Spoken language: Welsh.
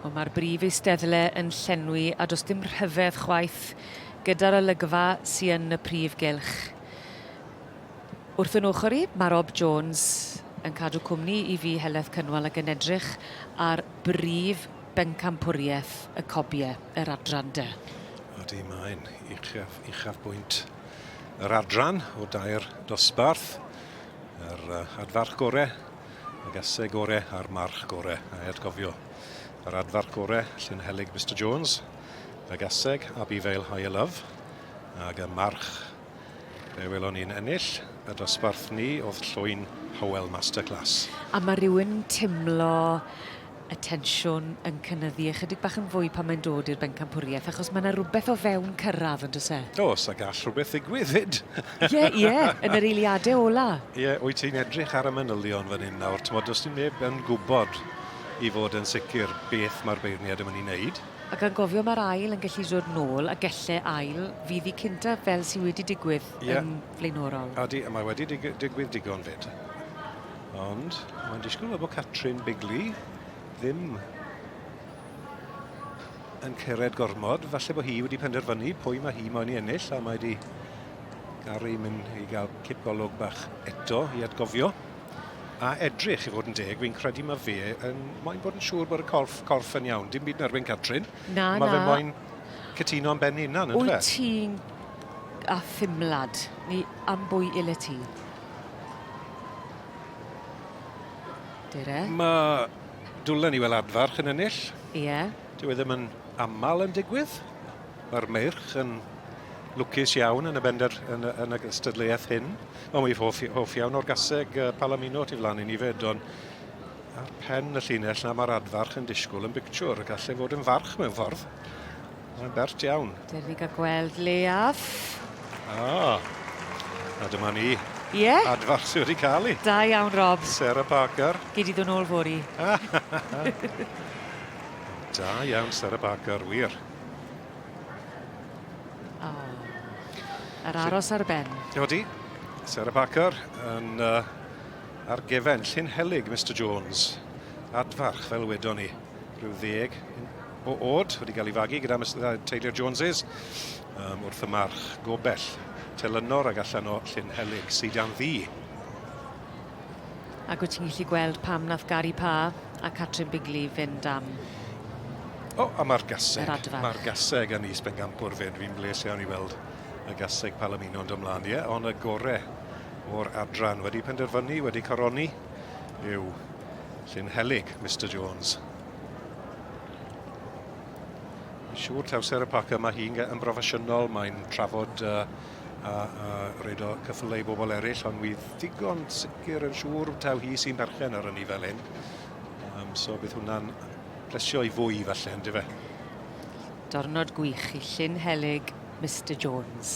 Wel, mae'r brif eisteddle yn llenwi a does dim rhyfedd chwaith gyda'r olygfa sy yn y prif gylch. Wrth yn ochr i, mae Rob Jones yn cadw cwmni i fi Heledd Cynwal ac yn edrych ar brif bencampwriaeth y cobiau, yr adran de. Ydy, mae'n uchaf, uchaf bwynt yr adran o dair dosbarth. Yr uh, adfarch gorau y gaseg gore a'r march gore. A atgofio, yr adfarch gore, llun helig Mr Jones, y gaseg, Abifail High a Love, ag y march, fe welon ni'n ennill, y dosbarth ni oedd llwyn Howell Masterclass. A mae rhywun teimlo y tensiwn yn cynyddu ychydig bach yn fwy pan mae'n dod i'r bencampwriaeth, achos mae yna rhywbeth o fewn cyrraedd, yn dys e? Os a gall rhywbeth ddigwydd fyd. Ie, ie, yn yr eiliadau ola. Ie, wyt ti'n edrych ar y manylion fan hyn nawr, ti'n modd, os ti'n neb yn gwybod i fod yn sicr beth mae'r beirniad yn mynd i wneud. A gan gofio mae'r ail yn gallu dod nôl, a gelle ail fydd i cynta fel sydd wedi digwydd ie. yn flaenorol. Adi, a mae wedi dig digwydd digon fyd. Ond mae'n disgwyl fel bod Catrin Bigley ddim yn cyrraedd gormod. Falle bod hi wedi penderfynu pwy mae hi moyn i ennill a mae wedi garu mynd i gael cip golwg bach eto i atgofio. A edrych i fod yn deg, fi'n credu mae fe yn moyn bod yn siŵr bod y corff, corff yn iawn. Dim byd yn erbyn Catrin. Na, mae na. Mae fe moyn cytuno am ben hunan, ynddo fe? Wyt ti'n a ffimlad ni am bwy ile ti? Dere. Mae Dwlen i wel adfarch yn ennill. Ie. Yeah. Dwi e ddim yn aml yn digwydd. Mae'r meirch yn lwcus iawn yn y bender yn, yn y gystadleuaeth hyn. Ond we've hoff, hoff iawn o'r gaseg uh, Palamino tu flan i ni fyd, ond ar pen y llinell na mae'r adfarch yn disgwyl yn bictiwr. Gallai fod yn farch mewn ffordd. Mae'n bert iawn. Dewch i gael gweld leiaf. Ah, a dyma ni. Ie. Yeah. Adfach sydd wedi cael ei. Da iawn, Rob. Sarah Parker. Gyd i ddod nôl fori. da iawn, Sarah Parker, wir. Oh. Yr aros ar ben. Yodi. Sarah Parker yn uh, ar gefen Llyn Helig, Mr Jones. Adfarch, fel wedon ni, rhyw ddeg, o od wedi cael ei fagu gyda Mister Taylor Joneses um, wrth y march gobell telynor ag allan o Llyn Helig sydd dan ddi. Ac wyt ti'n gallu gweld pam nath Gary Pa a Catrin Bigley fynd am O, oh, a mae'r gaseg. Mae'r gaseg yn is bengampwr fynd. Fi'n bles iawn i weld y gaseg Palomino yn dymlaen, ie, yeah, ond y gore o'r adran wedi penderfynu, wedi coroni, yw Llyn Helig, Mr Jones. Siŵr taw Sarah Parker, mae hi'n yn broffesiynol, mae'n trafod uh, a, a reid o cyffylau i bobl eraill, ond wydd digon sicr yn siŵr taw hi sy'n berchen ar ynni fel hyn. Um, so bydd hwnna'n plesio i fwy falle, ynddi fe? Dornod gwych i Llyn Helig, Mr Jones.